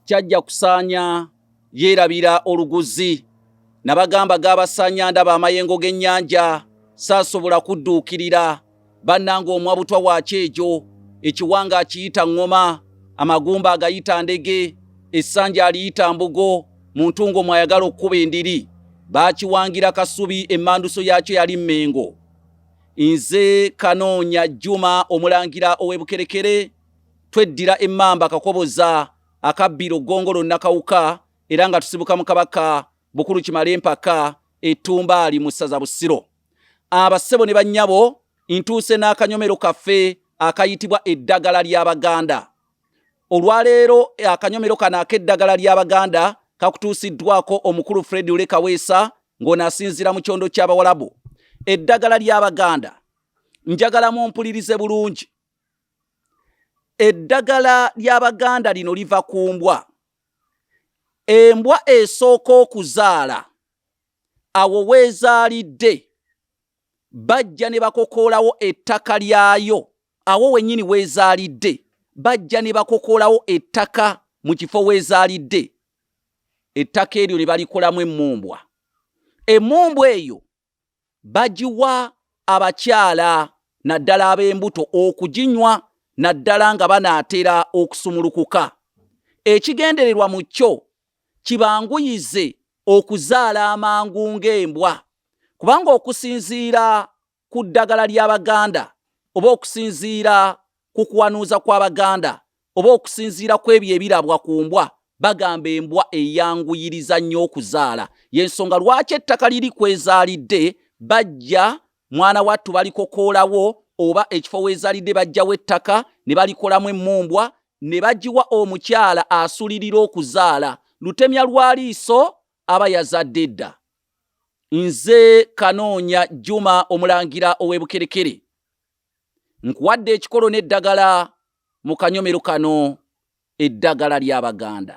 kyajja kusaanya yeerabira oluguzi nabagamba gaabasaanya ndaba amayengo g'ennyanja saasobola kudduukirira bannanga omwa butwa wa kyejo ekiwanga akiyita ŋŋoma amagumba agayita ndege essanja aliyita mbugo mu ntungo mwayagala okukuba endiri baakiwangira kasubi emmanduso yaakyo yali mmengo nze kanoonya jjuma omulangira ow'ebukerekere tweddira emmamba kakoboza akabbiro ggongolo nakawuka era nga tusibuka mu kabaka bukulu kimala empaka etumbaali mu ssaza busiro abassebo ne bannyabo ntuuse n'akanyomero kaffe akayitibwa eddagala ly'abaganda olwaleero akanyomero kano ak'eddagala ly'abaganda kakutuusiddwako omukulu fred ule kaweesa ng'ono asinziira mu kyondo ky'abawalabu eddagala ly'abaganda njagala mumpulirize bulungi eddagala ly'abaganda lino liva ku mbwa embwa esooka okuzaala awo weezaalidde bajja ne bakokoolawo ettaka lyayo awo wenyini weezaalidde bajja ne bakokoolawo ettaka mu kifo weezaalidde ettaka eryo ne balikolamu emmumbwa emmumbwa eyo bagiwa abakyala naddala ab'embuto okuginywa naddala nga banaatera okusumulukuka. Ekigendererwa mu kyo kibanguyize okuzaala amangu ng'embwa kubanga okusinziira ku ddagala ly'Abaganda oba okusinziira ku kuwanuuza kw'Abaganda oba okusinziira ku ebyo ebirabwa ku mbwa bagamba embwa eyanguyiriza nnyo okuzaala y'ensonga lwaki ettaka liri kwezaalidde bajja mwana wattu balikokoolawo oba ekifo weezaalidde bajjawo ettaka ne balikolamu emmumbwa ne bagiwa omukyala asulirira okuzaala lutemya lwa liiso aba yazadde edda nze kanoonya juma omulangira ow'ebukerekere nkuwadde ekikolo n'eddagala mu kanyomero kano eddagala ly'Abaganda.